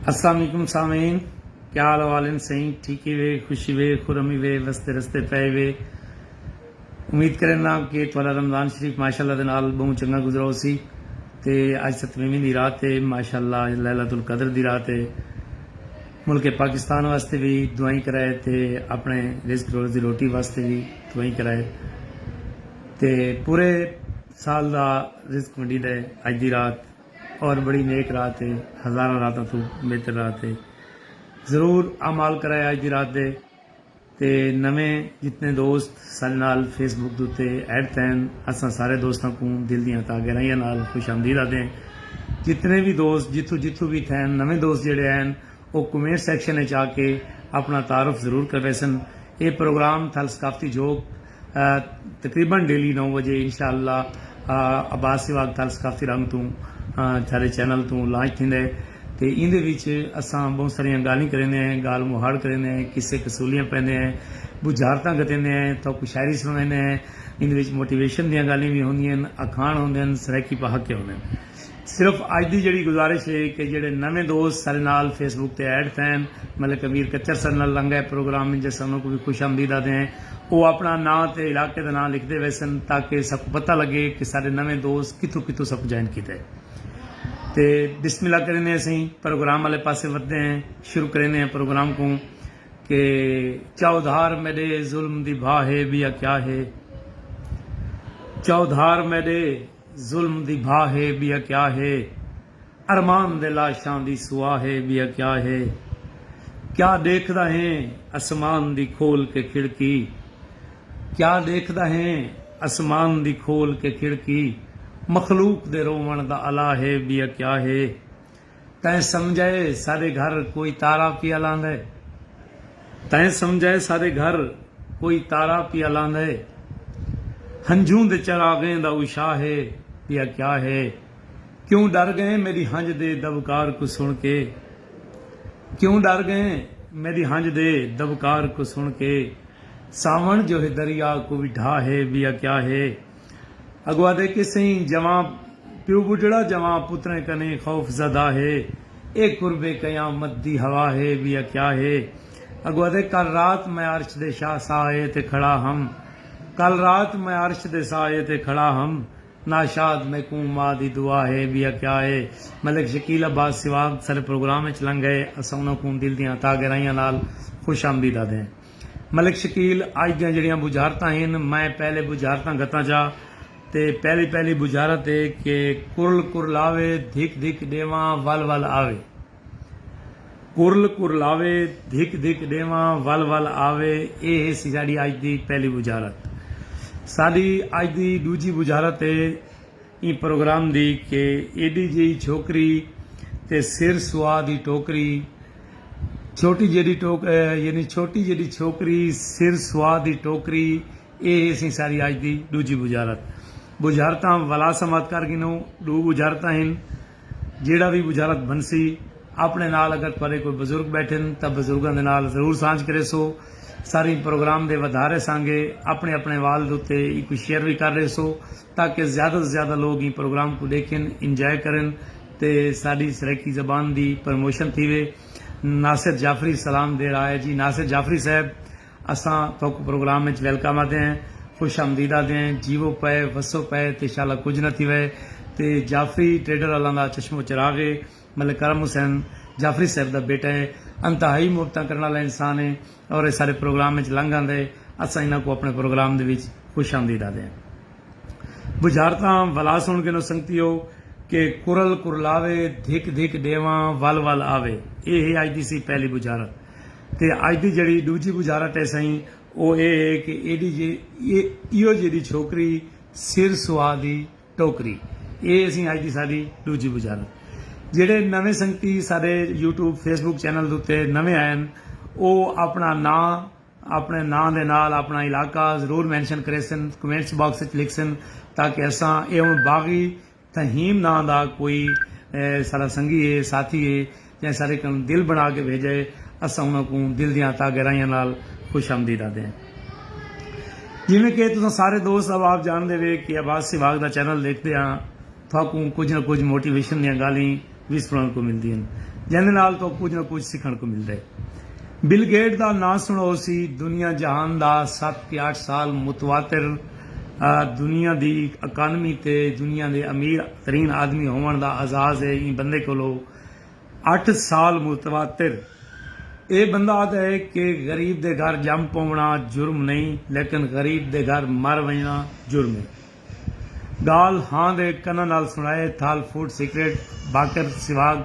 السلام علیکم سامعین کیا حال احوال ہیں سائیں ٹھیک ہی وے خوشی وے خرمی وے وستے رستے پے وے امید کرنا کہ تھوڑا رمضان شریف ماشاءاللہ دے نال بہوں چنگا گزرا ہو سی تے اج ستویں دی رات ہے ماشاءاللہ اج ليلۃ القدر دی رات ہے ملک پاکستان واسطے بھی دعائیں کرائے تے اپنے رزق روز دی روٹی واسطے بھی دعائیں کرائے تے پورے سال دا رزق ونڈی دے اج دی رات اور بڑی نیک رات ہے ہزاراں راتاں توں بہتر رات ہے ضرور اعمال کرائے اج دی رات دے تے نویں جتنے دوست ساڈے نال فیس بک دے اتے ایڈ تھین اساں سارے دوستاں کوں دل دیاں تہ گہرائیاں نال خوش آمدید آدھیں جتنے وی دوست جتھوں جتھوں وی تھین نویں دوست جیڑھے ہین او کمینٹ سیکشن اچ آ کے اپنا تعارف ضرور کرویسن اے پروگرام تھل ثقافتی جھوک تقریبا ڈیلی نو وجے انشاء اللہ عباس سہواگ تال ثقافتی رنگ توں تھارے چینل توں لانچ تھیندے تے ایندے وچ اساں بہوں ساریاں گالھیں کریندے ہیں گال مہاڑ کریندے ہیں قصے قصولیاں پہندے ہیں بجھارتاں گھتیندے ہیں تہاکوں شاعری سنڑویندے ہیں ایندے وچ موٹیویشن دیاں گالھیں وی ہوندین اکھاݨ ہوندن سرائیکی پہاکے ہوندن۔ صرف اج دی جیڑھی گزارش ہے کہ جیڑھے نویں دوست ساڈے نال فیس بک تے ایڈ تھین ملک امیر کچر ساڈے نال لنگا اے پروگرام انج اساں انہاں کوں وی خوش آمدید آدھے ہیں او اپنڑاں ناں تے علاقے دا ناں لکھدے ویسن تاکہ ساکوں پتہ لگے کہ ساڈے نویں دوست کتھوں کتھوں ساکوں جوائن کیتا ہے تے بسم اللہ کریندے اسیں پروگرام آلے پاسے ودھدے ہیں شروع کریندے ہیں پروگرام کوں کہ چاؤدھار میڈے ظلم دی بھا ہے بیا کیا ہے چاؤدھار میڈے ظلم دی بھا ہے ٻیا کیا ہے ارمان دے لاشاں دی سوا ہے ٻیا کیا ہے کیا ݙیکھدا ہیں اسمان دی کھول کے کھڑکی کیا ݙیکھدا ہیں اسمان دی کھول کے کھڑکی مخلوق دے رووݨ دا الا ہے ٻیا کیا ہے۔ تیں سمجھئے ساڈے گھر کوئی تارا پیا لاندھئے تیں سمجھئے ساڈے گھر کوئی تارا پیا لاندھئے ہنجھوں دے چراغیں دا اشاہ ہے پیا کیا ہے کیوں ڈر گئیں میڈی ہنج دے دبکار کوں سن کے کیوں ڈر گئیں میڈی ہنج دے دبکار کوں سن کے ساون جو ہے دریا کوئی ڈھا ہے بیا کیا ہے۔ اگو آدھے کہ سئیں جواں پیو ٻڈھڑا جواں پتریں کنیں خوف زدہ ہے اے قرب قیامت دی ہوا ہے ویا کیا ہے اگو آدھے کل رات میں عرش دے شاہ سائے تے کھڑا ہم کل رات میں عرش دے سائے تے کھڑا ہم ناشاد میکوں ماء دی دعا ہے ویا کیا ہے ملک شکیل عباس سواگ ساڈے پروگرام اچ لنگھ گئے اساں انہاں کوں دل دیاں تہہ گہرائیاں نال خوش آمدید آدھے ہیں۔ ملک شکیل اج دیاں جیڑھیاں بجھارتاں ہن میں پہلے بجھارتاں گھتاں چا تے پہلی پہلی بجھارت اے کہ کرل کرلاوے دھک دھک ڈیواں ول ول آوے کرل کرلاوے دھک دھک ڈیواں ول ول آوے اے ہیسی ساڈی اج دی پہلی بجھارت ساڈی اج دی ڈوجھی بجھارت اے ایں پروگرام دی کہ ایڈی جیہی چھوکری تے سر سوا دی ٹوکری چھوٹی جیڈی ٹوک یعنی چھوٹی جیڈی چھوکری سر سوا دی ٹوکری اے ہے سی ساری اج دی ڈوجھی بجھارت بجھارتاں ولا سمعت کر گھنو ڈو بجھارتاں ہن جیڑا وی بجھارت بنسی اپنے نال اگر تہاڈے کوئی بزرگ بیٹھن تاں بزرگاں دے نال ضرور سانجھ کریسو ساریں پروگرام دے ودھارے سانگے اپنے اپنے والد اتے ایکوں شیئر وی کر ریسو۔ تاکہ زیادہ توں زیادہ لوگ ایں پروگرام کوں ڈیکھن، انجوائے کرن تے ساڈی سرائیکی زبان دی پرموشن تھیوے۔ ناصر جعفری سلام دے رہا ہے جی ناصر جعفری صاحب اساں تہاکوں پروگرام وچ ویلکم آدے ہیں، خوش آمدید آدے ہیں، جیوو پئے، وسو پئے تے شالا کجھ نہ تھیوے تے جعفری ٹریڈر آلاں دا چشم و چراغ ہے۔ ملک کرم حسین جعفری صاحب دا بیٹا ہے انتہائی محبتاں کرن آلا انسان ہے اور اے سارے پروگرام اچ لنگھ آندے اساں انہاں کوں اپنے پروگرام دے وچ خوش آمدید آدھے ہیں بجھارتاں ولا سن گھنو سنگتیو کہ کرل کرلاوے دھک دھک ڈیواں ول ول آوے اے ہے اج دی سی پہلی بجھارت تے اج دی جیڑھی ڈوجھی بجھارت ہے سئیں او اے ہے کہ ایڈی جیڑھی ایہو جیڈی چھوکری سر سوا دی ٹوکری اے اسی اج دی ساڈی ڈوجھی بجھارت جیڑھے نویں سنگتی ساڈے یوٹیوب فیس بک چینل دوتے نویں آئے ہن او اپنا ناں اپنے ناں دے نال اپنا علاقہ ضرور مینشن کریسن کمنٹس باکس اچ لکھسن تاکہ اساں اے ہن باغی تھہیم ناں دا کوئی ساڈا سنگی اے ساتھی اے جئیں سارے کن دل بنا کے بھیجا ہے اساں انہاں کوں دل دیاں عطا گرائیاں نال خوش آمدید آدھے ہیں جیویں کہ تساں سارے دوست احباب جاندے وے کہ احباب سے واگ دا چینل ڈیکھدے ہاں تہاکوں کجھ نہ کجھ موٹیویشن دیاں گالھیں وی سنڑن کوں ملدی ہن جیندے نال تہاکوں کجھ نہ کجھ سکھنڑ کوں ملدا ہے۔ بل گیٹ دا ناں سنڑو ہوسی دنیا جہان دا ست کہ اٹھ سال متواتر دنیا دی اکانومی تے دنیا دے امیر ترین آدمی ہوونڑ دا اعزاز ہے ایں بندے کولو اٹھ سال متواتر اے بندہ آدھا ہے کہ غریب دے گھر جم پوونا جرم نئیں لیکن غریب دے گھر مر ونجنا جرم ہے گالھ ہاں دے کناں نال سنڑائے تھال فوڈ سیکرٹ باقر سواگ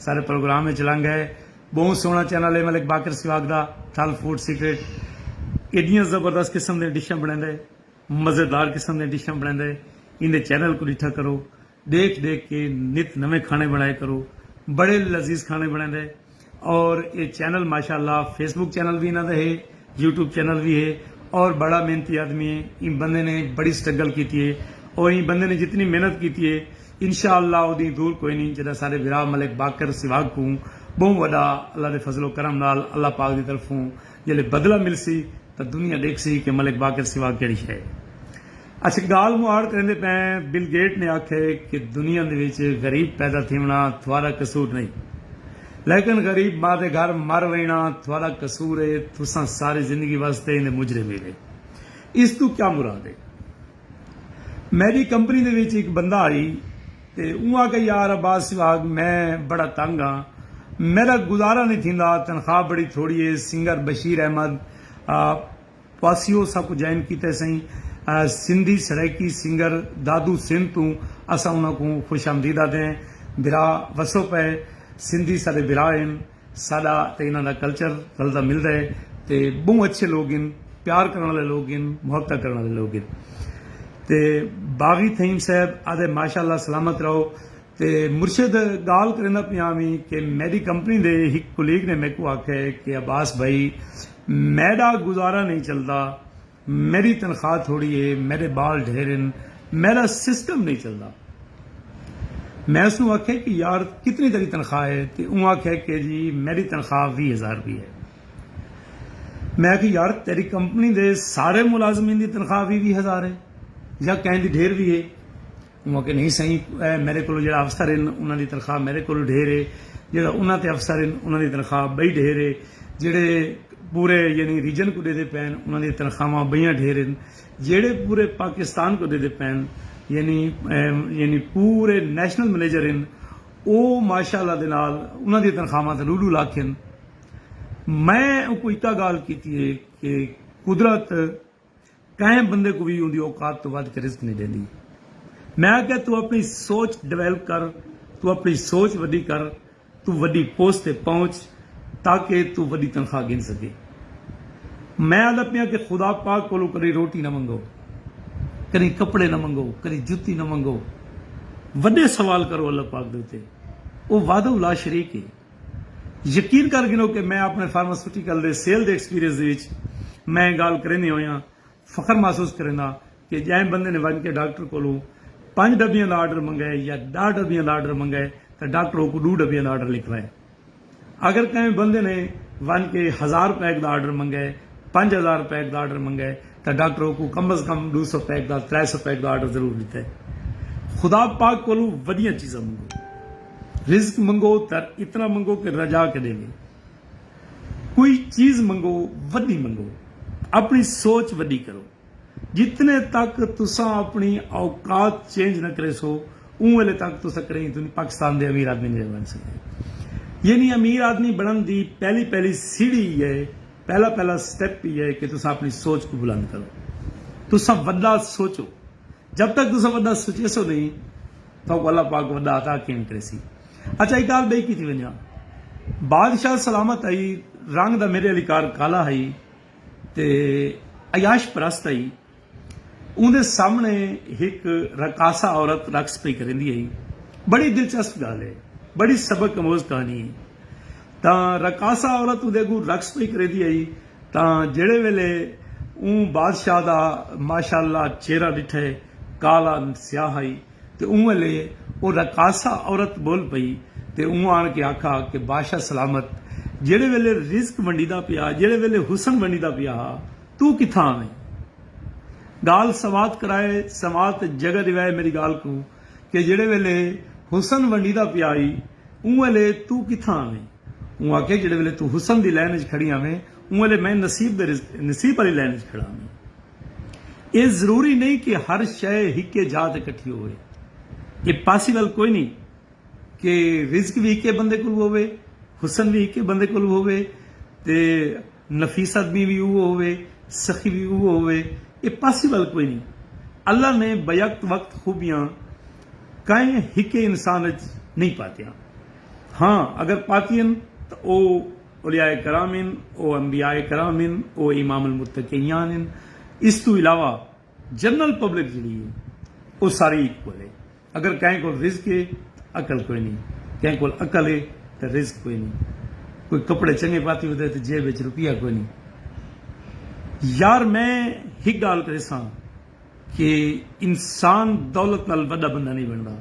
سارے پروگرام اچ لنگ ہے بہوں سوہنا چینل ہے ملک باقر سواگ دا تھال فوڈ سیکرٹ ایڈیاں زبردست قسم دیاں ڈشاں بنڑیندا ہے مزیدار قسم دیاں ڈشاں بنڑیندا ہے ایندے چینل کوں ڈٹھا کرو۔ ڈیکھ ڈیکھ کے نت نویں کھانے بنڑائے کرو بڑے لذیذ کھانے بنڑیندے اور اے چینل ماشاءاللہ فیس بک چینل وی انہاں دا ہے یوٹیوب چینل وی ہے اور بڑا محنتی آدمی ہے ایں بندے نے بڑی سٹرگل کیتی ہے اور ایں بندے نے جتنی محنت کیتی ہے انشاءاللہ اودی دور کوئی نی جڈا ساڈے ورا ملک باقر سیواگ کوں بہوں وڈا اللہ دے فضل و کرم نال اللہ پاک دی طرفوں جلے بدلہ ملسی تاں دنیا ڈیکھسی کے ملک باقر سیواگ کیڑی شے ہے۔ اچھا گالھ مہاڑ کریندے پئیں بل گیٹ نے آکھے کہ دنیا دے وچ غریب پیدا تھیونڑا تھوارا قصور نئیں لیکن غریب ماء دے گھر مر وینڑا تھوارا قصور اے تساں ساری زندگی واسطے ایندے مجرم ہیوے اس توں کیا مراد اے میڈی کمپنی دے وچ ہک بندہ آئی تے اوں آکھے یار عباس سہواگ میں بڑا تنگ ہاں میڈا گزارا نئیں تھیندا تنخواہ بڑی تھوڑی اے سنگر بشیر احمد پاسیو ساکوں جائن کیتے سئیں سندھی سرائیکی سنگر دادو سندھ توں اساں انہاں کوں خوش آمدید آدھے ہیں بھرا وسو پئے سندھی ساڈے بھرا ہن ساڈا تے انہاں دا کلچر رلدا ملدا ہے تے بہوں اچھے لوگ ہن پیار کرن والے لوگ ہن محبتاں کرن والے لوگ ہن تے باغی تھئیم صاحب آدھے ماشاءاللہ سلامت رہو تے مرشد گالھ کریندا پیاں وی کہ میڈی کمپنی دے ہک کولیگ نے میکوں آکھے کہ عباس بھائی میڈا گزارا نئیں چلدا، میڈی تنخواہ تھوڑی ہے، میڈے بال ڈھیر ہن، میڈا سسٹم نئیں چلدا۔ میں اس کوں آکھیا کہ یار کتنی تیڈی تنخواہ ہے تے اوں آکھیا کہ جی میڈی تنخواہ ویہہ ہزار روپیہ ہے۔ میں آکھیا یار تیڈی کمپنی دے سارے ملازمین دی تنخواہ ویہہ ویہہ ہزار ہے یا کہیں دی ڈھیر وی ہے۔ انہاں آکھیا نہیں سئیں اے میڈے کولوں جیہڑا افسر ہن انہاں دی تنخواہ میڈے کولوں ڈھیر اے جیہڑا انہاں تے افسر ہن انہاں دی تنخواہ بئی ڈھیر اے جیہڑے پورے یعنی ریجن کوں ڈیندے پئے ہن انہاں دی تنخواہواں بئیاں ڈھیر ہن جیہڑے پورے پاکستان کوں ڈیندے پئے ہن یعنی یعنی پورے نیشنل منیجر ہن او ماشاء اللہ دے نال انہاں دی تنخواہواں تاں ڈو ڈو لکھ ہن میں اوکوں اکا گالھ کیتی اے کہ قدرت کہیں بندے کوں وی اوندی اوقات توں ودھ کے رزق نی ڈیندی۔ میں آکھیا توں اپنڑی سوچ ڈویلپ کر، توں اپنڑی سوچ وڈی کر، توں وڈی پوسٹ تے پہنچ تاکہ توں وڈی تنخواہ گھن سگیں۔ میں آندا پیاں کہ خدا پاک کولوں کڈی روٹی نہ منگو، کڈی کپڑے نہ منگو، کڈی جتی نہ منگو، وڈے سوال کرو اللہ پاک دے اتے، او وحدہ لا شریک ہے۔ یقین کر گھنو کہ میں اپݨے فارماسیوٹیکل دے سیل دے ایکسپیرینس دے وچ میں اے ڳالھ کریندیں ہوئیاں فخر محسوس کرینداں کہ جئیں بندے نے ونڄ کے ڈاکٹر کولوں پنڄ ݙبیاں دا آرڈر منگائے یا ݙاہ ݙبیاں دا آرڈر منگائے تاں ڈاکٹر اوکوں ݙو ݙبیاں دا آرڈر لکھوائے۔ اگر کہیں بندے نے ونڄ کے ہزار پیک دا آرڈر منگائے، پنڄ ہزار پیک دا آرڈر منگائے تاں ڈاکٹر اوکوں کم از کم ݙو سو پیک دا، ترے سو پیک دا آرڈر ضرور ݙتے۔ خدا پاک کولوں وݙیاں چیزاں منگو۔ رزق منگو تر اتنا منگو کہ رجا کے ڈیوے کوئی چیز منگو وڈی منگو اپنی سوچ وڈی کرو جتنے تک تساں اپنی اوقات چینج نہ کریسو اوں ویلے تک تساں کڈہیں دنیا پاکستان دے امیر آدمی نی بن سکدے یعنی امیر آدمی بنن دی پہلی پہلی سیڑھی ای ہے پہلا پہلا سٹیپ ای ہے کہ تساں اپنی سوچ کوں بلند کرو تساں وڈا سوچو جب تک تساں وڈا سچیسو نہیں تہاکوں اللہ پاک وڈا عطا کیویں کریسی۔ اچھا ہک گالھ بئی کیتی ونجاں۔ بادشاہ سلامت ہئی رنگ دا میڈے آلی کار کالا ہئی تے عیاش پرست ہئی۔ اوندے سامنے ہک رقاصہ عورت رقص پئی کریندی ہئی۔ بڑی دلچسپ گالھ ہے۔ بڑی سبق اموز کہانی ہے۔ تاں رقاصہ عورت اوندے اگوں رقص پئی کریندی ہئی۔ تاں جیڑھے ویلے اوں بادشاہ دا ماشاء اللہ چہرہ ݙٹھے کالا سیاہ ہئی تے اوں ویلے او رقاصہ عورت ٻول پئی تے اوں آن کے آکھا کہ باشا سلامت جیڑھے ویلے رزق ونڈیدا پیا ہا جیڑھے ویلے حسن ونڈیدا پیا ہا توں کتھاں ہئیں ڳالھ سماعت کرائے سماعت اچ جگہ ݙیوائے میݙی ڳالھ کوں کہ جیڑھے ویلے حسن ونڈیدا پیا ہئی اوں ویلے توں کتھاں ہئیں۔ اوں آکھیا جیڑھے ویلے توں حسن دی لین اچ کھڑی آویں اوں ویلے میں نصیب دے نصیب آلی لین اچ کھڑا آویں۔ اے ضروری نئیں کہ ہر شئ ہکے جاہ تے کٹھی ہووے۔ اے پاسیبل کوئی نئیں کہ رزق وی ہکے بندے کولوں ہووے، حسن وی ہکے بندے کولوں ہووے تے۔ نفیس آدمی وی اوہو ہووے، سخی وی اوہو ہووے، ایہ پاسیبل کوئی نی۔ اللہ نے بیک وقت خوبیاں کائیں ہکے انسان اچ نئیں پاتیاں۔ ہاں اگر پاتی ہن تاں او اولیاء کرام ہن، او انبیاء کرام ہن، او امام المتقیان ہن۔ اس توں علاوہ۔ جنرل پبلک جیڑھی ہے او ساری ایکول ہے اگر کہیں کول رزق ہے تاں عقل کوئی نئیں کہیں کول عقل ہے تاں رزق کوئی نئیں کوئی کپڑے چنگے پاتی ہوندے تاں جیب وچ روپیہ کوئی نئیں یار میں ہک گالھ کریساں کہ انسان دولت نال وڈا بندہ نئیں بندا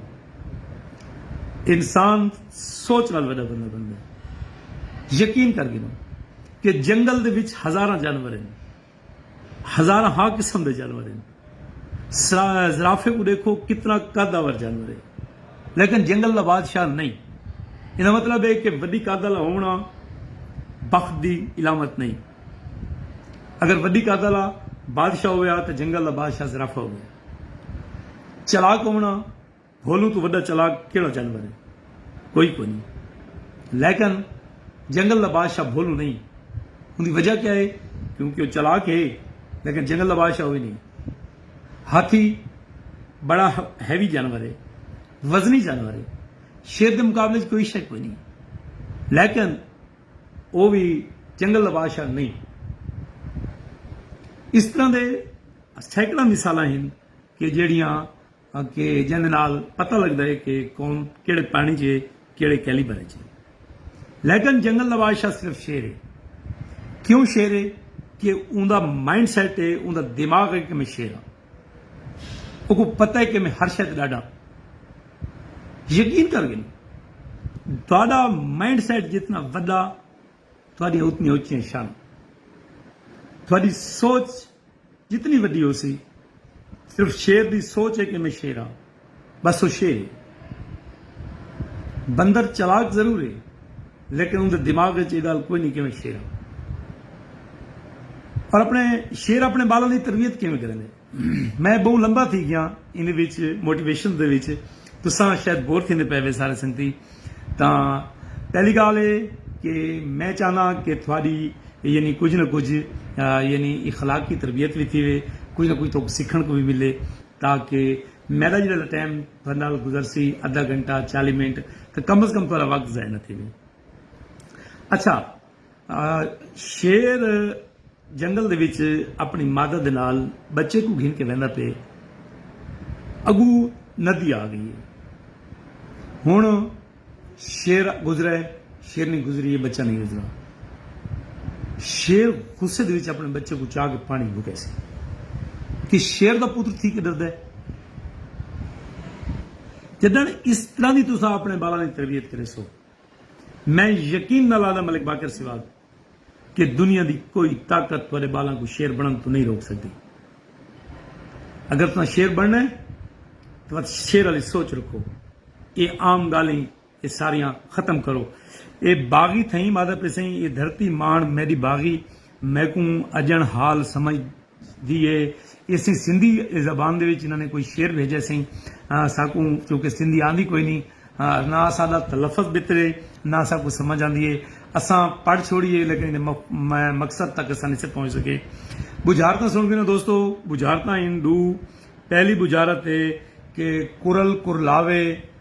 انسان سوچ نال وڈا بندہ بندا یقین کر گھنو کہ جنگل دے وچ ہزاراں جانور ہیں ہزاراں ہا قسم دے جانور ہن۔ زرافے کوں ڈیکھو کتنا قد آور جانور ہے لیکن جنگل دا بادشاہ نئیں۔ ایندا مطلب ہے کہ وڈی قد آلا ہووݨا بخت دی علامت نئیں۔ اگر وڈی قد آلا بادشاہ ہوویا تاں جنگل دا بادشاہ زرافہ ہووے۔ چالاک ہووݨا۔ بھولوں توں وݙا چالاک کیڑھا جانور ہے؟ کوئی کونھیں۔ لیکن جنگل دا بادشاہ بھولوں نئیں۔ اوندی وجہ کیا ہے؟ کیونکہ او چالاک ہے لیکن جنگل دا بادشاہ ہووی نئیں۔ ہاتھی بڑا ہیوی جانور ہے۔ وزنی جانور ہے۔ شیر دے مقابلے وچ کوئی شے کوئی نئیں۔ لیکن او وی جنگل دا بادشاہ نئیں۔ اس طرح دے سینکڑاں مثالاں ہن کہ جیڑھیاں۔ کہ جیندے نال پتہ لگدا ہے کہ قوم کیڑھے پانی چ ہے کیڑھے کیلیبر اچ ہے لیکن جنگل دا بادشاہ صرف شیر ہے کیوں شیر ہے کہ اوندا مائنڈ سیٹ ہے اوندا دماغ ہے کہ میں شیر ہاں اوکو پتہ ہے کہ میں ہر شے تے ڈاڈا یقین کر گن تہاڈا مائنڈ سیٹ جتنا وڈا تہاڈیاں اتنی اچیاں شان تہاڈی سوچ جتنی وڈی ہوسی صرف شیر دی سوچ ہے کہ میں شیر ہاں بس او شیر ہے بندر چلاک ضرور ہے لیکن اوندے دماغ وچ اے گالھ کوئی نہیں کہ میں شیر ہاں اور اپنے شیر اپنے بالاں دی تربیت کیویں کریندے میں بہوں لمبا تھی گیاں ایندے وچ موٹیویشن دے وچ تساں شاید بور تھیندے پئے وے سارے سنگتی تاں پہلی گالھ اے کہ میں چاہنا کہ تھوڑی یعنی کجھ نہ کجھ یعنی اخلاقی تربیت وی تھیوے کجھ نہ کجھ تہاکوں سکھن کوں وی ملے تاکہ میڈا جیڑا دا ٹائم تھوڑے نال گزرسی ادھا گھنٹہ چالی منٹ تاں کم از کم تہاڈا وقت ضائع نہ تھیوے اچھا شیر جنگل دے وچ اپݨی مادر دے نال ٻچے کوں گھن کے ویندا پئے۔ اڳوں ندی آ ڳئی اے۔ ہݨ شیر گزرا اے، شیرنی گزری اے، ٻچہ نئیں گزرا۔ شیر غصے دے وچ اپݨے ٻچے کوں چا کے پاݨی گھتیسی۔ کہ شیر دا پتر تھی کے ݙردا اے۔ جݙݨ اس طرح دی تساں اپݨے ٻالاں دی تربیت کریسو۔ میں یقین نال آہدھاں ملک باقر سوا کہ دنیا دی کوئی طاقت تہاڈے بالاں کوں شیر بنڑن توں نہیں روک سگدی۔ اگر تساں شیر بنڑنا ہے تاں ود شیر آلی سوچ رکھو۔ اے عام گالھیں اے ساریاں ختم کرو۔ اے باغی تھئیم آہدھا پیسئیں اے دھرتی ماہنڑ میڈی باغی میکوں اجنڑ حال سمجھ دی اے اسی سندھی زبان دے وچ انہاں نے کوئی شعر بھیجے سئیں اساکوں چونکہ سندھی آندی کوئی نی نہ اساڈا تلفظ بھتر اے نہ اساکوں سمجھ آندی اے اساں پڑھ چھوڑی اے لیکن ایندے مقصد تک اساں نسے پہنچ سکے بجھارتاں سن گھنو دوستو بجھارتاں ہن ڈو پہلی بجھارت اے کہ کرل کرلاوے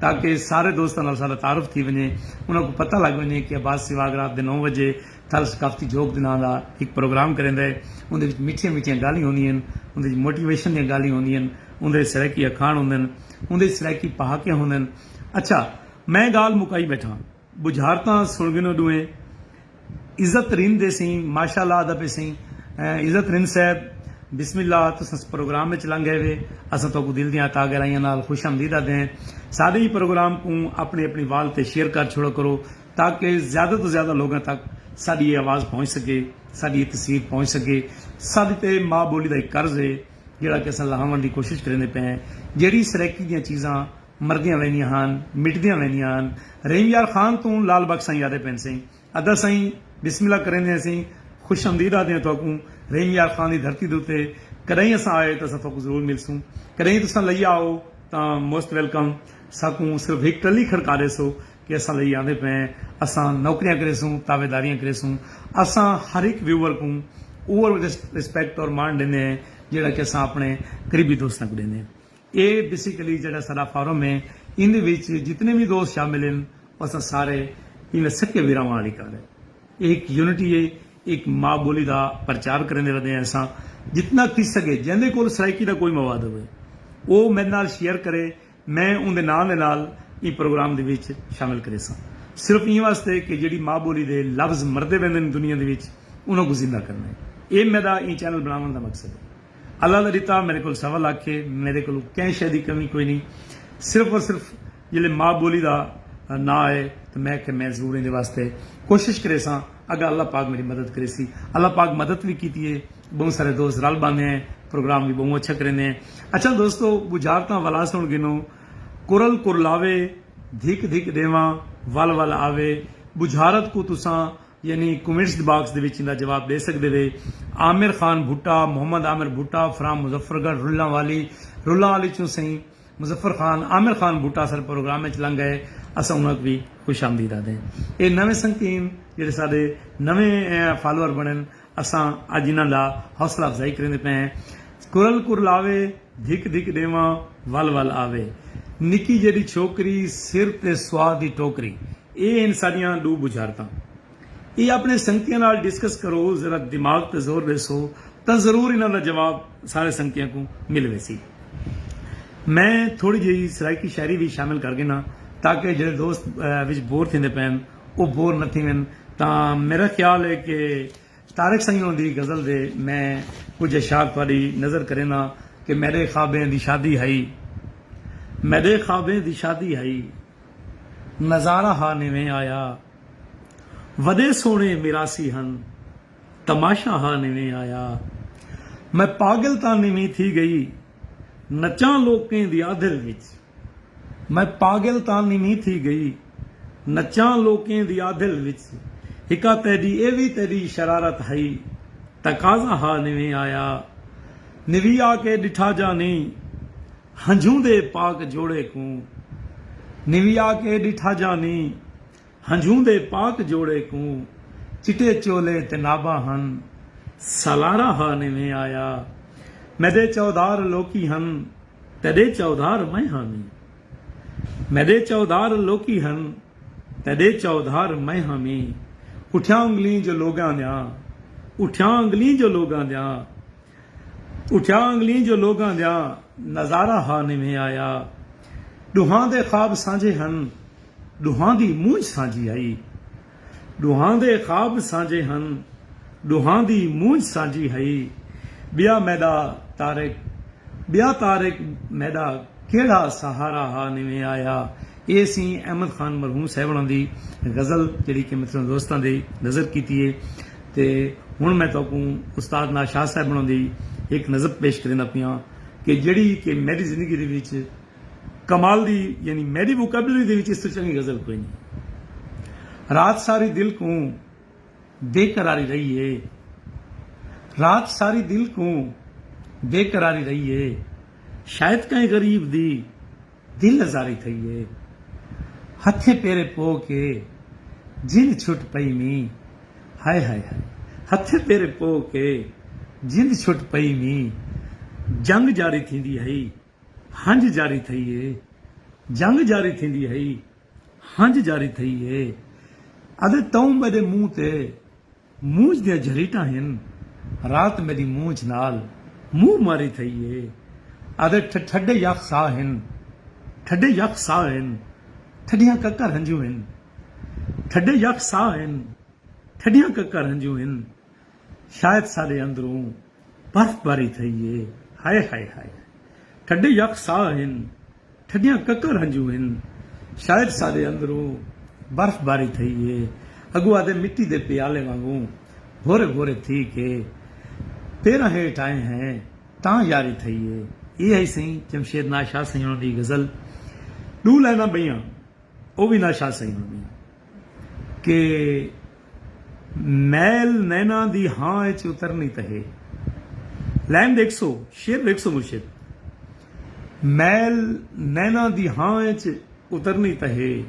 تاکہ سارے دوستاں نال ساڈا تعارف تھی ونجے انہاں کوں پتہ لگ ونجے کہ عباس سیواگ رات دے نو وجے تھل ثقافتی جھوک دے ناں دا ہک پروگرام کریندا ہے اوندے وچ میٹھیاں میٹھیاں گالھیں ہوندیاں ہن اوندے وچ موٹیویشن دیاں گالھیں ہوندیاں ہن اوندے وچ سرائیکی اکھاݨ ہوندن اوندے وچ سرائیکی پہاکے ہوندن اچھا میں گالھ مکائی بیٹھاں۔ بجھارتاں سن گنو ڈوہیں عزت رند دے سئیں ماشاء اللہ آدا پے سئیں عزت رند صاحب بسم اللہ تساں پروگرام وچ لنگ گئے وے اساں تہاکوں دل دیاں تہا گہرائیاں نال خوش آمدید آدے ہیں ساڈے ہی پروگرام کوں اپنی اپنی وال تے شیئر کر چھوڑا کرو تاکہ زیادہ توں زیادہ لوگاں تک ساڈی اے آواز پہنچ سکے ساڈی اے تصویر پہنچ سکے ساڈے تے ماء بولی دا ہک قرض ہے جیڑھا کہ اساں لہاونڑ دی کوشش کریندے پئے ہیں جیڑھی سرائیکی دیاں چیزاں مردیاں ویندیاں ہن مٹدیاں ویندیاں ہن رحیم یار خان توں لال بخش سائیں یادیں پینسیں ادا سائیں بسم اللہ کریندے ہیسیں خوش امدید آہدیاں تہاکوں رحیم یار خان دی دھرتی دے اتے کڈاہیں اساں آئے تاں اساں تہاکوں ضرور ملسوں کڈاہیں تساں لئی آؤ تاں موسٹ ویلکم ساکوں صرف ہک ٹلی کھڑکا ڈیسو کہ اساں لئی آندے پئے ہیں اساں نوکریاں کریسوں تابعداریاں کریسوں اساں ہر ہک ویوور کوں اوہو رسپیکٹ اور مان ڈیندے ہیں جیہڑا کہ اساں اپنے قریبی دوستاں کوں ڈیندے ہیں۔ اے بیسیکلی جیہڑا ساڈا فورم اے ایندے وچ جتنے وی دوست شامل ہن او اساں سارے ایویں سکے بھراواں آلی کال اے۔ اے ہک یونٹی اے ہک ما بولی دا پرچار کریندے ردے ہیں اساں جتنا تھی سگے جیندے کول سرائیکی دا کوئی مواد ہووے او میڈے نال شیئر کرے میں اوندے ناں دے نال ایں پروگرام دے وچ شامل کریساں صرف ایں واسطے کہ جیہڑی ما بولی دے لفظ مردے ویندن دنیا دے وچ انہاں کوں زندہ کرنا اے اے میڈا ایں چینل بناون دا مقصد اے۔ اللہ دا ݙتا میݙے کول سوا لکھ ہے، میݙے کول کہیں شے دی کمی کوئی نی، صرف اور صرف جیلھے ماء ٻولی دا ناں آئے تاں میں آکھیا میں ضرور ایندے واسطے کوشش کریساں، اگاں اللہ پاک میݙی مدد کریسی، اللہ پاک مدد وی کیتی ہے، ٻہوں سارے دوست رل ٻہندے ہیں، پروگرام وی ٻہوں اچھا کریندے ہیں، اچھا دوستو ٻجھارتاں ولا سݨ گھنو، کرل کرلاوے، دھک دھک ݙیواں، ول ول آوے، ٻجھارت کوں تساں یعنی کومنٹس باکس دے وچ ایندا جواب ڈے سگدے وے عامر خان بھٹہ محمد عامر بھٹہ فرام مظفر گڑھ رلہ والی رلہ والی چوں سئیں مظفر خان عامر خان بھٹہ اساڈے پروگرام وچ لنگ گئے اساں انہاں کوں وی خوش آمدید آدھیں اے نویں سنگتین جیڑھے ساڈے نویں فالوور بنن اساں اج انہاں دا حوصلہ افزائی کریندے پئے ہیں کرل کرلاوے دھک دھک ڈیواں ول ول آوے نکی جیڈی چھوکری سر تے سواد دی ٹوکری اے ہن ساڈیاں ڈو بجھارتاں۔ اے اپنے سنگتیاں نال ڈسکس کرو ذرا دماغ تے زور ڈیسو تاں ضرور انہاں دا جواب سارے سنگتیاں کوں مل ویسی۔ میں تھوڑی جئی سرائیکی شاعری وی شامل کر گھناں تاکہ جیڑھے دوست وچ بور تھیندے پین او بور نہ تھیون تاں میڈا خیال اے کہ طارق سئیں ہوراں دی غزل دے میں کجھ اشعار تہاڈی نظر کرینداں کہ میڈے خوابیں دی شادی ہئی میڈے خوابیں دی شادی ہئی۔ نظارہ ہا نویں آیا۔ وڈے سوہنے میراثی ہن۔ تماشہ ہا نویں آیا۔ میں پاگل تاں نویں تھی گئی۔ نچاں لوکیں دی آدھل وچ۔ میں پاگل تاں نویں تھی گئی۔ نچاں لوکیں دی آدھل وچ۔ ہکا تیڈی ایہ وی تیڈی شرارت ہئی۔ تقاضہ ہا نویں آیا۔ نویں آ کے ڈٹھا جا نیں۔ ہنجھوں دے پاک جوڑے کوں نویا کے ڈٹھا جانی ہنجھوں دے پاک جوڑے کوں چٹے چولے تے ناباں ہن سالارا ہا نویں آیا میڈے چودھار لوکی ہن تیڈے چودھار میں ہاں نی میڈے چودھار لوکی ہن تیڈے چودھار میں ہاں نی اٹھیاں انگلیں جو لوگاں دیاں اٹھیاں انگلیں جو لوگاں دیاں۔ اٹھیا انگلیں جو لوگاں دا نظارہ ہا نویں آیا ڈوہاں دے خواب سانجھے ہن ڈوہاں دی مونجھ سانجھی ہئی ڈوہاں دے خواب سانجھے ہن ڈوہاں دی مونجھ سانجھی ہئی ٻیا میݙا طارق ٻیا طارق میݙا کیڑھا سہارا ہا نویں آیا اے سی احمد خان مرحوم صاحبݨاں دی غزل جیڑھی کہ محترم دوستاں دی نظر کیتی ہے۔ تے ہݨ میں تہاکوں استاد ناشاہ صاحب ہوݨاں دی ہک نظم پیش کریندا پیاں کہ جیڑھی کہ میݙی زندگی دے وچ کمال دی یعنی میݙی ووکیبلری دے وچ اس توں چنڳی غزل کوئی نئیں رات ساری دل کوں بے قراری رہی ہے رات ساری دل کوں بے قراری رہی ہے شاید کہیں غریب دی دل ازاری تھئی اے۔ ہتھیں پیریں پو کے جند چھٹ پئی ویں۔ ہائے ہائے ہائے۔ ہتھیں پیریں پو کے جند چھٹ پئی ویں۔ جنگ جاری تھیندی ہئی۔ ہنج جاری تھئی اے۔ جنگ جاری تھیندی ہئی۔ ہنج جاری تھئی اے۔ ادے توں میڈے منہ تے۔ مونجھ دیاں جھریٹاں ہن رات میݙی مونجھ نال منہ ماری تھئی اے آدھے ٹھڈے یخ ساہ ہن ٹھڈے یخ ساہ ہن ٹھڈیاں ککر ہنجوں ہن ٹھڈے یخ ساہ ہن ٹھڈیاں ککر ہنجوں ہن شاید ساݙے اندروں برف باری تھئی اے ہائے ہائے ہائے ٹھڈے یک ساہ ہن ٹھڈیاں ککر ہنجو ہن شاید ساڈے اندروں برف باری تھئی اے اگو آدھے مٹی دے پیالے وانگوں بھورے بھورے تھی کے پیراں ہیٹھ آئے ہیں تاں یاری تھئی اے اے ہئی سئیں جمشید ناز شاہ سئیں ہوراں دی غزل ڈو لائناں بئیاں او وی ناز شاہ سئیں ہوراں دیاں۔ کہ میل نیناں دی ہاں اچ اترنی تہے۔ لائن ڈیکھسو، شعر ڈیکھسو مرشد۔ میل نیناں دی ہاں اچ اترنی تہے۔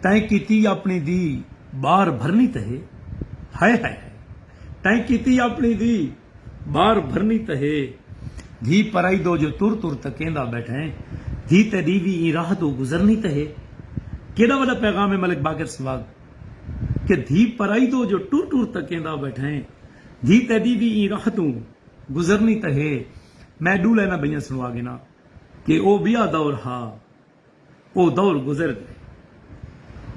تیں کیتی اپنی دی بار بھرنی تہے۔ ہائے ہائے ہائے۔ تیں کیتی اپنی دی۔ بار بھرنی تاں ہے۔ دھی پرائی دو جو تر تر تکیندا بیٹھیں دھی تیڈی وی ایں راہ توں گزرنی تاں ہے۔ کیڈا وڈا پیغام ہے ملک باقر سباغ کہ دھی پرائی دو جو ٹر ٹر تکیندا بیٹھیں دھی تیڈی وی ایں راہ توں گزرنی تاں ہے۔ میں ڈو لائناں بئیاں سنوا گھناں کہ او بیا دور ہا۔ او دور گزر گئے۔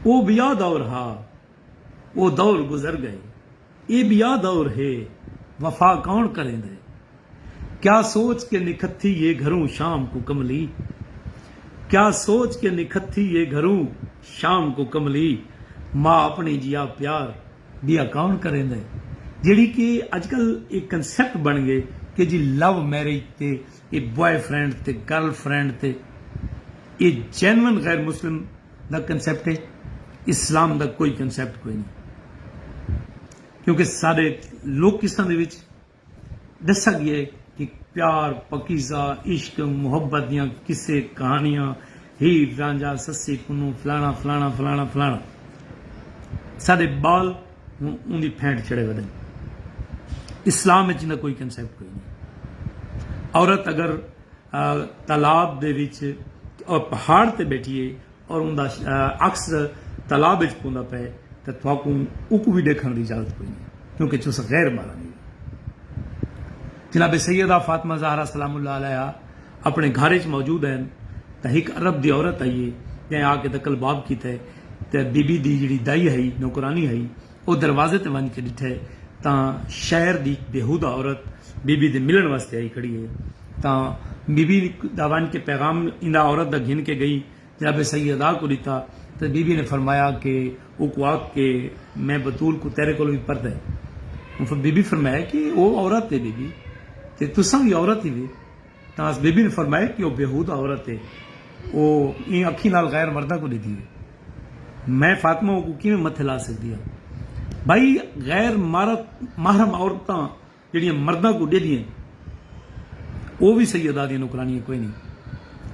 او بیا دور ہا۔ او دور گزر گئے۔ اے بیا دور ہے۔ وفا کون کریندے۔ کیا سوچ کے نکھتھی ہے گھروں شام کوں کملی۔ کیا سوچ کے نکھتھی ہے گھروں شام کوں کملی۔ ما اپݨی جیا پیار بیا کون کریندے۔ جیڑھی کہ اڄ کل اے کنسیپٹ بݨ گئے کہ جی لو میرج تے اے بوائے فرینڈ تے گرل فرینڈ تے اے جینون غیر مسلم دا کنسیپٹ اے اسلام دا کوئی کنسیپٹ کوئی نی کیونکہ سارے لوکیساں دے وچ ڈسا گیا اے کہ پیار پکیزہ عشق محبت دیاں قصے کہانیاں ہیر رانجھا سسی پنوں فلانا فلانا فلانا فلانا سارے بال اوں دی پھینٹ چڑھے ودن۔ اسلام اچ ایندا کوئی کنسیپٹ کوئی نی۔ عورت اگر تالاب دے وچ اور پہاڑ تے بیٹھی ہے اور اوندا عکس تالاب اچ پوندا پئے تاں تہاکوں اوکوں وی ڈیکھݨ دی اجازت کوئی نی کیونکہ تساں غیر محرم ہیو۔ جناب سیدہ فاطمہ زہرا سلام اللہ علیہا اپݨے گھر اچ موجود ہن تاں ہک عرب دی عورت آئی ہے جئیں آ کے تقلباب کیتے۔ تے بی بی دی جیڑھی دائی ہئی، نوکرانی ہئی، او دروازے تے ونڄ کے ݙٹھے تاں شہر دی ہک بیہودہ عورت بی بی دے ملݨ واسطے آئی کھڑی ہئی تاں بی بی دا ونڄ کے پیغام ایندا عورت دا گھن کے ڳئی جناب سیدہ کوں ݙتا تے بی بی نے فرمایا کے اوکوں آکھ کے میں بتول کوں تیݙے کولوں وی پردے بی بی فرمایا کے او عورت ہے بی بی تے تساں وی عورت ہیوے۔ تاس بی بی نے فرمایا کہ او بیہودہ عورت ہے او ایں اکھیں نال غیر مرداں کوں ڈیدھی ہے میں فاطمہ اوکوں کیویں متھے لا سگدی ہاں بھائی غیر مرد محرم عورتاں جیڑھیاں مرداں کوں ڈیدھی ہیں او وی سیدہ دیاں نوکرانیاں کوئی نہیں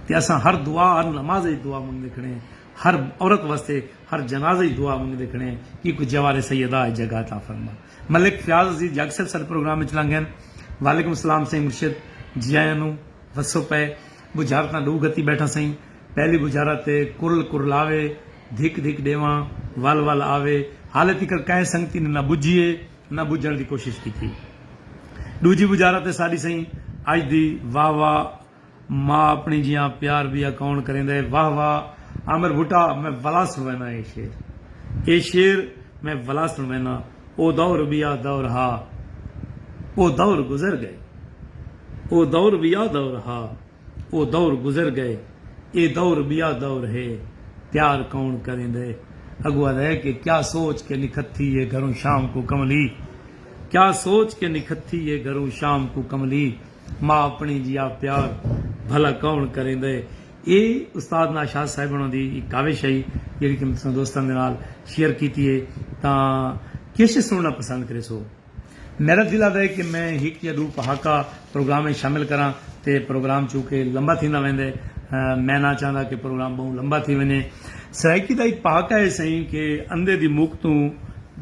تے اساں ہر دعا ہر نماز اچ دعا منگدے کھڑے ہیں ہر عورت واسطے ہر جنازے اچ دعا منگدے کھڑے ہیں کہ کوئی جوار سیدہ اچ جگہ عطا فرما۔ ملک فیاض عزیز جگ صاحب ساڈے پروگرام وچ لنگ گئن۔ وعلیکم السلام سئیں مرشد جی آیاں نو وسو پئے بجھار تاں ڈو گھتی بیٹھاں سئیں پہلی بجھارا تے کرل کرلاوے دھک دھک ڈیواں ول ول آوے حالے تیکر کہیں سنگتی نے نہ بجھی اے نہ بجھن دی کوشش کیتی ڈوجھی بجھارا تے ساڈی سئیں اج دی واہ واہ ماء اپݨی جیہاں پیار بی اکاؤنٹ کریندا ہے واہ واہ عامر بھٹا میں ولا سݨوینا اے شعر اے شعر میں ولا سݨوینا او دور ٻیا دور ہا او دور گزر ڳئے او دور ٻیا دور ہا او دور گزر ڳئے اے دور ٻیا دور ہے پیار کون کریندے اڳوں آہدا ہے کہ کیا سوچ کے نکھتھی ہے گھروں شام کوں کملی کیا سوچ کے نکھتھی ہے گھروں شام کوں کملی۔ ماء اپݨی جیا پیار بھلا کوݨ کریندا ہے۔ اے استاد ناشاد صاحب ہوݨاں دی ہک کاوش ہئی جیڑھی کہ میں تساں دوستاں دے نال شیئر کیتی ہے تاں کیش سݨݨا پسند کریسو۔ میݙا دل آہدا ہے کہ میں ہک یا ݙو پہاکا پروگرام اچ شامل کراں تے پروگرام چونکہ لمبا تھیندا ویندا ہے میں نہ چاہندا کہ پروگرام ٻہوں لمبا تھی ونڄے۔ سرائیکی دا ہک پہاکا ہے سئیں کہ اندھے دی مک توں،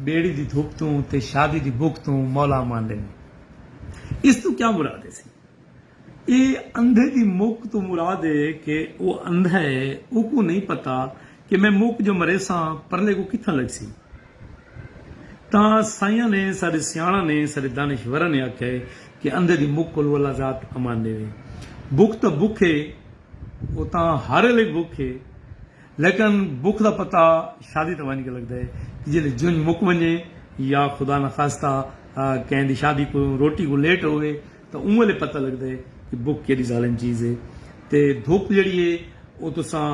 ٻیڑی دی دھپ توں تے شادی دی بک توں مولا اماندے نیں۔ اس توں کیا مراد ہے سی اے اندھے دی مک توں مراد ہے کہ او اندھا ہے اوکوں نہیں پتہ کہ میں مک جو مریساں پرلے کوں کتھاں لگسی تاں سائیاں نے ساڈے سیاݨاں نے ساڈے دانشوراں نے آکھیا ہے کہ اندھے دی مک کولوں اللہ ذات امان ݙیوے بک تاں بک ہے او تاں ہر الے بک ہے لیکن بکھ دا پتہ شادی تے ونڄ کے لڳدے کہ جیلھے جنڄ مک ونڄے یا خدا نہ خواستہ کہیں دی شادی کوں روٹی کوں لیٹ ہووے تاں اوں ویلھے پتہ لڳدے کہ بکھ کیݙی ظالم چیز ہے تے دھپ جیڑھی ہے او تساں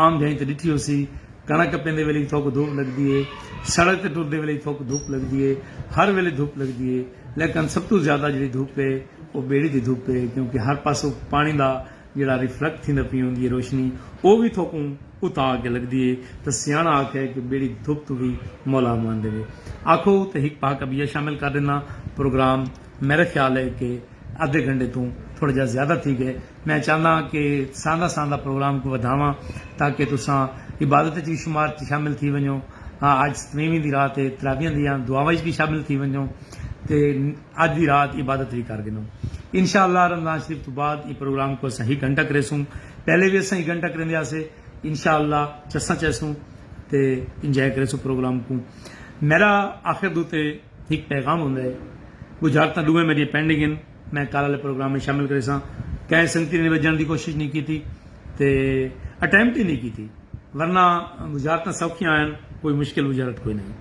عام جھائیں تے ݙٹھی ہوسی کݨک کپیندے ویلھے وی تھوک دھپ لڳدی ہے سڑک تے ٹردے ویلھے وی تھوک دھپ لڳدی ہے ہر ویلھے دھپ لڳدی ہے لیکن سب توں زیادہ جیڑھی دھپ ہے او ٻیڑی دی دھپ ہے کیونکہ ہر پاسوں پاݨی دا جیڑھا ریفلیکٹ تھیندا پی ہوندی اے روشنی او وی تھوکوں اتا آ کے لگدی اے تاں سیاݨا آکھیا اے کہ بیڑی دھپ توں وی مولا امان ݙیوے آکھو تے ہک پہاکہ ٻیا شامل کر ݙینداں پروگرام میݙا خیال اے کہ ادھے گھنٹے توں تھوڑا جیہا زیادہ تھی ڳئے میں چاہندا ہاں کہ ساندا ساندا پروگرام کوں ودھاواں تاکہ تساں عبادت اچ وی شمار اچ شامل تھی ونڄو اڄ ستویویں دی رات اے تراویحاں دیاں دعاواں اچ وی شامل تھی ونڄو تے اج دی رات عبادت وی کر گھنوں۔ انشاء اللہ رمضان شریف توں بعد ایں پروگرام کوں اساں ہک گھنٹہ کریسوں۔ پہلے وی اساں ہک گھنٹہ کریندے ہاسے۔ انشاء اللہ چساں چیسوں تے انجوائے کریسوں پروگرام کوں۔ میڈا آخر دو تے ہک پیغام ہوندا ہے۔ بجھارتاں ڈوہیں میڈیاں پینڈنگ ہن۔ میں کل آلے پروگرام وچ شامل کریساں۔ کہیں سنگتی نے وجھن دی کوشش نی کیتی تے اٹیمپٹ ہی نی کیتی۔ ورنہ بجھارتاں سوکھیاں ہن۔ کوئی مشکل بجھارت کوئی نئیں۔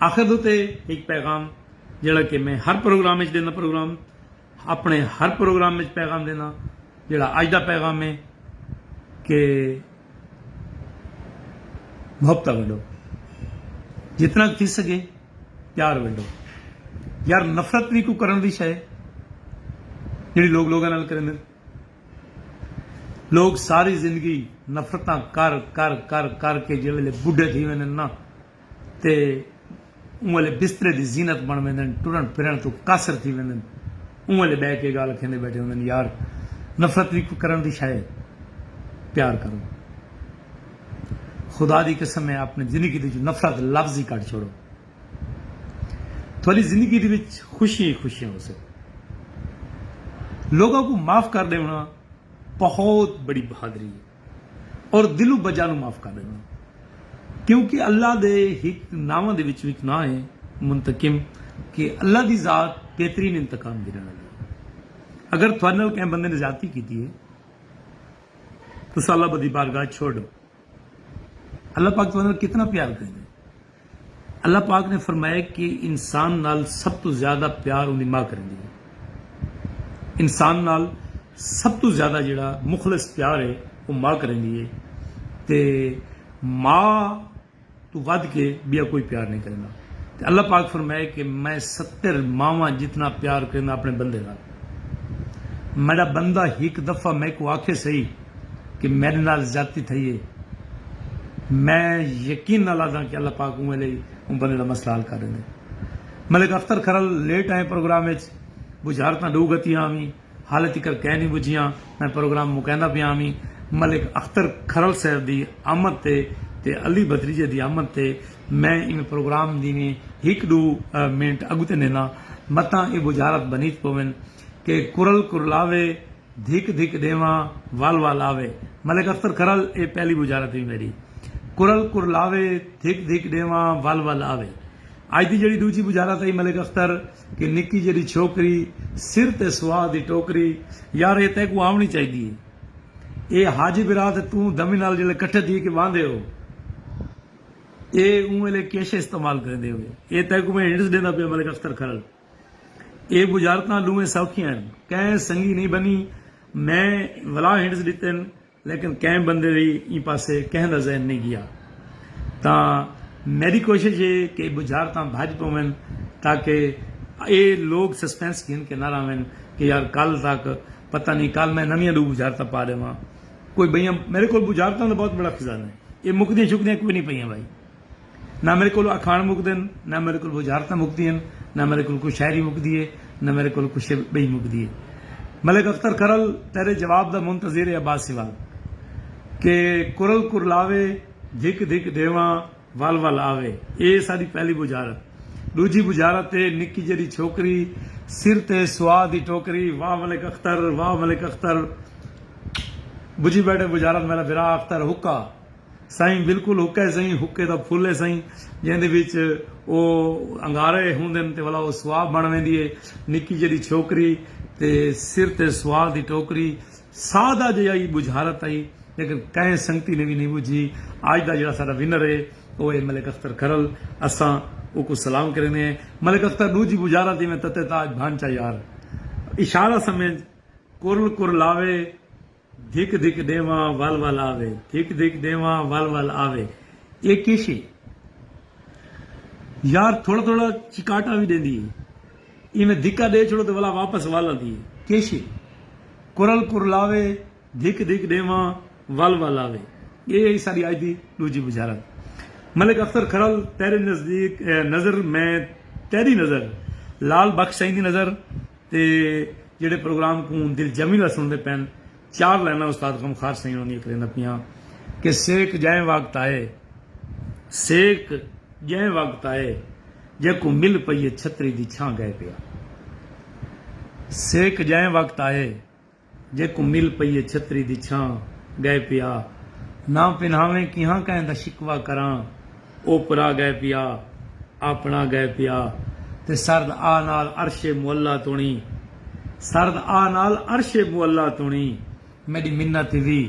آخر دو تے ہک پیغام جیڑھا کہ میں ہر پروگرام وچ ݙیندا پروگرام اپݨے ہر پروگرام وچ پیغام ݙیندا جیڑھا اڄ دا پیغام ہے کہ محبتاں ونڈو جتنا تھی سگے پیار ونڈو یار نفرت بھی کوئی کرن دی شے جڑی لوگ لوگاں نال کرن لوگ ساری زندگی نفرتاں کر کر کر کر کے جے ویلے بڈھے تھی ویندے نا تے اوں الے بسترے دی زینت بݨ ویندن، ٹرݨ پھرݨ توں قاصر تھی ویندن، اوں الے ٻہہ کے ڳالھ کھیندے ٻیٹھے ہوندن، یار نفرت وی کوئی کرݨ دی شئے ہے؟ پیار کرو خدا دی قسم ہے آپݨی زندگی دے وچوں نفرت لفظ ہی کڈھ چھوڑو تھولی زندگی دے وچ خوشیاں ہی خوشیاں ہوسن، لوکاں کوں معاف کر ݙیوݨا بہت بڑی بہادری ہے۔ اور دلو بجا نو معاف کر ڈیندے کیونکہ اللہ دے ہک ناواں دے وچوں ہک ناں ہے منتقم کہ اللہ دی ذات بہترین انتقام گھنن آلی ہے اگر تہاڈے نال کہیں بندے نے زیادتی کیتی ہے تساں اللہ بدی بارگاہ چھوڑ ڈیو اللہ پاک تہاڈے نال کتنا پیار کریندے اللہ پاک نے فرمایا کہ انسان نال سب توں زیادہ پیار اوندی ماء کریندی ہے۔ انسان نال سب توں زیادہ جیہڑا مخلص پیار ہے او ماء کریندی ہے تے ماء توں ودھ کے بیا کوئی پیار نئیں کریندا۔ تے اللہ پاک فرمایا کہ میں ستر ماواں جتنا پیار کرینداں اپنے بندے نال۔ میڈا بندہ ہک دفعہ میکوں آکھے سہی۔ کہ میڈے نال زیادتی تھئی اے میں یقین نال آدھاں کہ اللہ پاک اوں ویلے ای اوں بندے دا مسئلہ حل کر ڈیندے ملک اختر کھرل لیٹ آئیں پروگرام اچ بجھارتاں ڈو گھتیاں اویں حالے تکر کئے نی بجھیاں میں پروگرام مکیندا پیاں اویں ملک اختر کھرل صاحب دی آمد تے تے علی بھتریجے دی آمد تے میں ایویں پروگرام دیویں ہک ڈو منٹ اگتے نینداں متاں اے بجھارت بنیت پوین کہ کرل کرلاوے دھک دھک ݙیواں ول ول آوے۔ ملک اختر کرل اے پہلی بجارت وی میݙی۔ کرل کرلاوے دھک دھک ݙیواں ول ول آوے۔ اڄ دی جیڑھی ݙوجھی بجارت ہئی ملک اختر کہ نکی جیڑھی چھوکری سر تے سواد دی ٹوکری یار اے تیکوں آوݨی چاہیدی اے۔ اے حاجی برا تے توں دمی نال جیڑھے کٹھے تھی کے واہندے ہو اے اوں ویلے کیشے استعمال کریندے ہوے۔ اے تیکوں میں ہنٹس ݙیندا پیاں ملک اختر کرل۔ اے بجارتاں ڈونہیں سوکھیاں ہن۔ کہیں سنگی نئیں بنی۔ میں ولا ہنڈز ڈتن لیکن کہیں بندے دی ایں پاسے کہیں دا ذہن نئیں گیا۔ تاں میڈی کوشش اے کہ اے بجارتاں بھج پوون تاکہ اے لوگ سسپنس گھن کے نہ رہون کہ یار کل تک پتہ نئیں کل میں نویاں ڈو بجارتاں پا ڈیواں۔ کوئی بئیاں میڈے کول بجارتاں دا بہت بڑا خزانہ اے۔ اے مکدیاں شکدیاں کوئی نئیں پئیاں بھائی۔ نہ میڈے کولوں اکھاݨ مکدن، نہ میڈے کولوں وزارتاں مکدین، نہ میڈے کولوں کوئی شاعری مکدی اے، نہ میڈے کولوں کوئی شے بئی مکدی اے۔ ملک اختر کرل تیڈے جواب دا منتظر اے عباس سیوال کہ کرل کرلاوے، دھک دھک ڈیواں ول ول آوے۔ اے ساڈی پہلی بجارت۔ ڈوجھی بجارت اے نکی جیڈی چھوکری سر تے سوا دی ٹوکری واہ ملک اختر واہ ملک اختر بجھی بیٹھے بجارت میڈا بھرا اختر حقا۔ سئیں بالکل حقے سئیں حقے دا پھل ہے سئیں جیندے وچ او انگارے ہوندن تے ولا او سوا بن ویندی ہے نکی جیڈی چھوکری تے سر تے سوا دی ٹوکری سادہ جیہا ای بجھارت ہئی لیکن کہیں سنگتی نے وی نی بجھی اج دا جیڑا ساڈا ونر ہے او ہے ملک اختر کھرل اساں اوکوں سلام کریندے ہیں ملک اختر ڈوجھی بجھارت جیویں تتے تاج بھانچا یار اشارہ سمجھ کرل کرلاوے دھک دھک ݙیواں ول ول آوے دھک دھک ݙیواں ول ول آوے اے کیشے یار تھوڑا تھوڑا چکاٹا وی ݙیندی اے ایویں دھکا ݙے چھوڑو تے ولا واپس ول آندی اے کیشے کرل کرلاوے دھک دھک ݙیواں ول ول آوے اے ہئی ساݙی اڄ دی ݙوجھی بجھارت ملک اختر کھرل تیرے نزدیک نظر میں تیݙی نظر لال بخش سئیں دی نظر تے جیڑھے پروگرام کوں دلجمی نال سنڑدے پین چار لائناں استاد غمخوار سئیں ہوناں دیاں کرینداں پیاں کہ سیک جئیں وقت آئے سیک جئیں وقت آئے جیکوں مل پئیے چھتری دی چھاں گئے پیا سیک جئیں وقت آئے۔ جیکوں مل پئی اے چھتری دی چھاں ڳئے پیا نہ پنہاویں کیہاں کہیں دا شکوہ کراں اوپرا ڳئے پیا آپݨا ڳئے پیا تے سرد آ نال عرش معلی توݨی سرد آ نال عرش معلی توݨی میݙی منت وی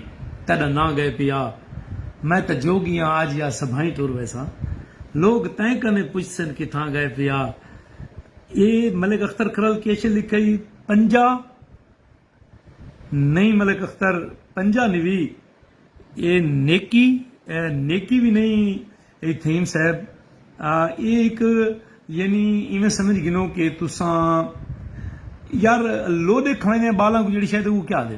تیݙا نہ ڳئے پیا میں تاں جوڳی آں آ جیا سبھائیں ٹر ویساں لوک تیں کنیں پچھسن کتھاں ڳئے پیا اے ملک اختر کھرل کیشے لکھئی۔ پنجا نہیں ملک اختر پنجا نہیں بھی اے نیکی اے نیکی بھی نہیں اے تھیم صاحب اے ایک یعنی ایویں سمجھ گنو کہ تساں یار لو دے کھانے بالاں کو جڑی شاید وہ کیا دے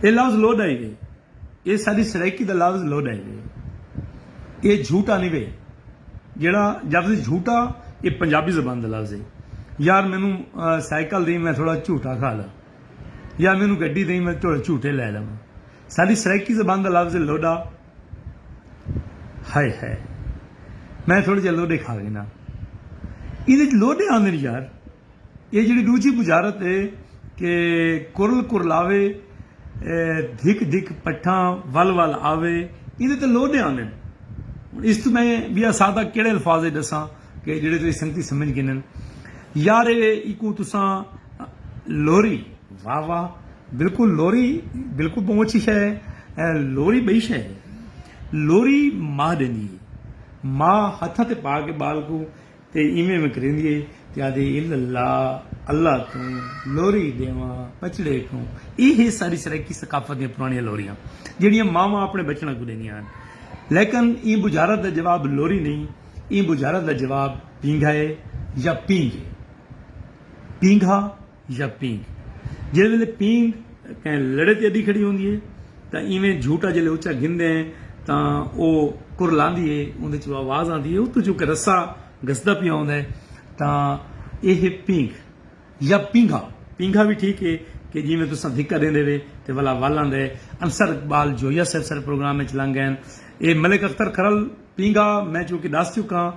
اے لفظ لو دا ہی دے اے ساݙی سرائیکی دا لفظ لوݙا ہی وے اے جھوٹا نی وے جیڑھا جفظ جھوٹا اے پنجابی زبان دا لفظ ہے یار مینوں سائیکل دئیں میں تھوڑا جھوٹا کھا لاں یا مینوں گڈی دئیں میں تھوڑے جھوٹے لہہ لواں ساݙی سرائیکی زبان دا لفظ ہے لوݙا ہائے ہائے میں تھوڑے جیہے لوݙے کھا گھناں ایندے وچ لوݙے آندن یار۔ ایہ جیڑھی ݙوجھی بجارت اے کہ کرل کرلاوے دھک دھک پٹھاں ول ول آوے ایندے تے لوݙے آندن۔ ہݨ اس توں میں ٻیا سادہ کیڑھے الفاظ اچ ݙساں کہ جیڑھے تہاݙی سنگتی سمجھ گھنن۔ یار اے ایکوں تساں لوری واہ واہ بالکل لوری بالکل ٻہوں اچھی شے اے لوری ٻئی شے نئیں لوری ماء ݙیندی اے ماء ہتھاں تے پا کے ٻال کوں تے ایویں میں کریندی ہے تے آہدی ہے الا اللہ اللہ توں لوری ڈیواں بچڑے کوں ایہ ہے ساڈی سرائیکی ثقافت دیاں پرانڑیاں لوریاں جیڑھیاں ماواں اپنڑے بچڑاں کوں ڈیندیاں ہن لیکن ایں بجھارت دا جواب لوری نہیں ایں بجھارت دا جواب پینگھا ہے یا پینگھ ہے پینگھا یا پینگ، جیڑھے ویلے پینگ کہیں لڑے تے اڈی کھڑی ہوندی ہے تاں ایویں جھوٹا جیلے اچا گھندے ہیں تاں او کرلاندی ہے اوندے چوں آواز آندی ہے اتوں چونکہ رسہ گھسدا پیا ہوندا ہے تاں ایہ ہے پینگ یا پینگھا پینگھا وی ٹھیک ہے کہ جیویں تساں دھکا دیندے وے تے ولا ول آندا ہے انصر اقبال جویہ صاحب سارے پروگرام وچ لنگ گئن اے ملک اختر کھرل پینگھا میں چونکہ ڈس چکاں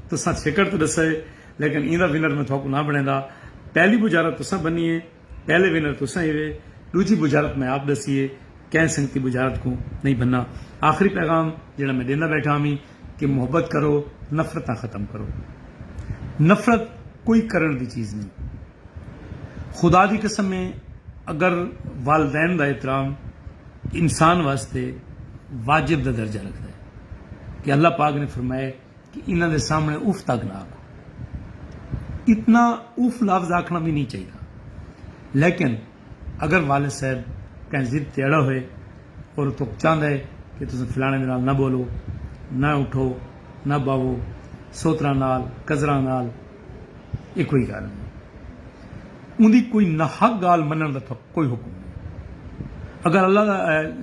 تساں چھیکڑ تے ڈسئے لیکن ایں دا ونر میں تھاکوں نہ بنڑیندا، پہلی بجارت تساں بنی اے، پہلے ونر تساں ہیوے، ڈوجھی بجارت میں آپ ڈسی اے، کہیں سنگتی بجارت کوں نئیں بننا۔ آخری پیغام جیڑھا میں ڈیندا بیٹھا ہوویں کہ محبت کرو، نفرتاں ختم کرو۔ نفرت کوئی کرنڑ دی چیز نئیں۔ خدا دی قسم اے اگر والدین دا احترام انسان واسطے واجب دا درجہ رکھدا اے کہ اللہ پاک نے فرمائے۔ کہ انہاں دے سامنڑے اف تک نہ آکھو۔ اتنا اف لفظ آکھنڑاں وی نی چاہیدا۔ لیکن اگر والد صاحب کہیں ضد تے اڑا ہوئے اور او تہاکوں چاہندا ہے کہ تساں فلانے دے نال نہ بولو، نہ اٹھو، نہ باہو، سوتراں نال، کزراں نال، اے کوئی گالھ نی۔ اوندی کوئی ناحق گالھ مننڑ دا تہاکوں کوئی حکم نی۔ اگر اللہ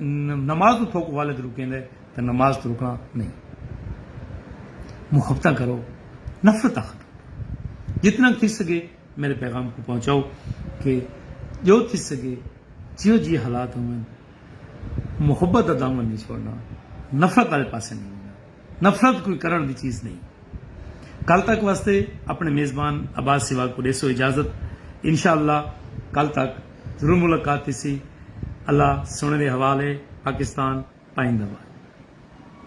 نماز توں تہاکوں والد روکیندا ہے۔ تے نماز توں رکݨا نئیں۔ محبتاں کرو، نفرتاں ختم کرو۔ جتنا تھی سڳے میݙے پیغام کوں پہنچاؤ کہ جو تھی سڳے جیہو جیہے حالات ہوون محبت دا دامن نئیں چھوڑݨا، نفرت آلے پاسے نئیں ونڄݨا۔ نفرت کوئی کرݨ دی چیز نئیں۔ کل تک واسطے اپݨے میزبان عباس سیوال کوں ݙیسو اجازت۔ انشاءاللہ کل تک۔ ضرور ملاقات تھیسی اللہ سنڑیں دے حوال اے پاکستان پائیندہ باد۔